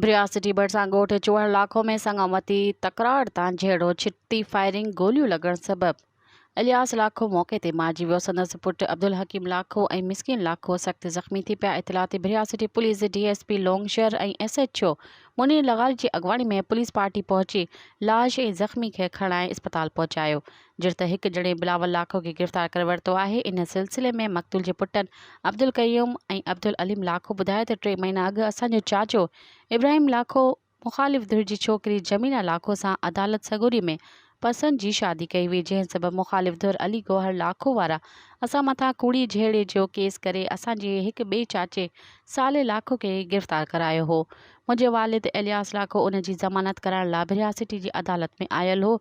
بريا city ڀرسان ڳوٺ چوهڻ لاکو ۾ سڱامتي تڪرار تان جهيڙو ڇٽي فائرنگ گوليون لڳڻ سبب الياس لاکو موقعي تي مارجي ويو سندس پٽ عبدالحڪيم لاکو ۽ مسڪين لاکو سخت زخمي ٿي پيا اطلاع تي بريا سٽي پوليس جي ڊي ايس پي لونگ شهر ۽ ايس ايڇ او منير لغاري جي اڳواڻي ۾ پوليس پارٽي پهچي لاش ۽ زخمي کي کڻائي اسپتال پهچايو جڏهن ته هڪ ڄڻي بلاول لاکو کي گرفتار ڪري ورتو آهي ان سلسلي ۾ مقتول جي پٽن عبدالقيوم ۽ عبدالعليم لاکو ٻڌايو ته ٽي مهينا اڳ اسان جو چاچو ابراهيم لاکو مخالف ڌر جي ڇوڪري جميله لاکو سان عدالت سڳوري ۾ پسند جي شادي ڪئي هئي جنهن سبب مخالف ڌر علي گوهر لاکو وارا اسان مٿان ڪوڙي جهيڙي جو ڪيس ڪري اسان جي هڪ ٻئي چاچي صالح لاکو کي گرفتار ڪرايو هو منهنجي والد الياس لاکو ان جي ضمانت ڪرائڻ لاء ڀريا سٽي جي عدالت ۾ آيل هو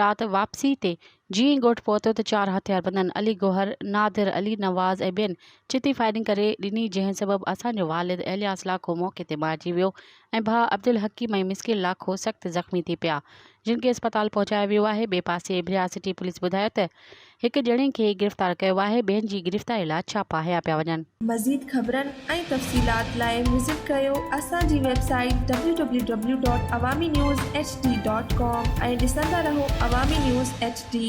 رات واپسي تي جيئن ئي ڳوٺ پهتو ته چار هٿياربندن علي گوهر نادر علي نواز ۽ ٻين چتي فائرنگ ڪري ڏني جنهن سبب اسان جو والد الياس لاکو موقعي تي مارجي ويو ۽ ڀاء عبدالحڪيم ۽ مسڪين لاکو سخت زخمي ٿي پيا، جن کي اسپتال پهچايو ويو آهي. ٻئي پاسي ايبريا سٽي پوليس ٻڌايو ته هڪ ڄڻي کي گرفتار ڪيو آهي، ٻين جي گرفتاري لاء ڇاپا هنيا پيا وڃن. مزيد خبرن ۽ تفصيلات لاء وزٽ ڪيو اسان جي website W W W dot Awami news H D dot com ۽ ڏسندا رهو عوامي نيوز ايڇ ڊي.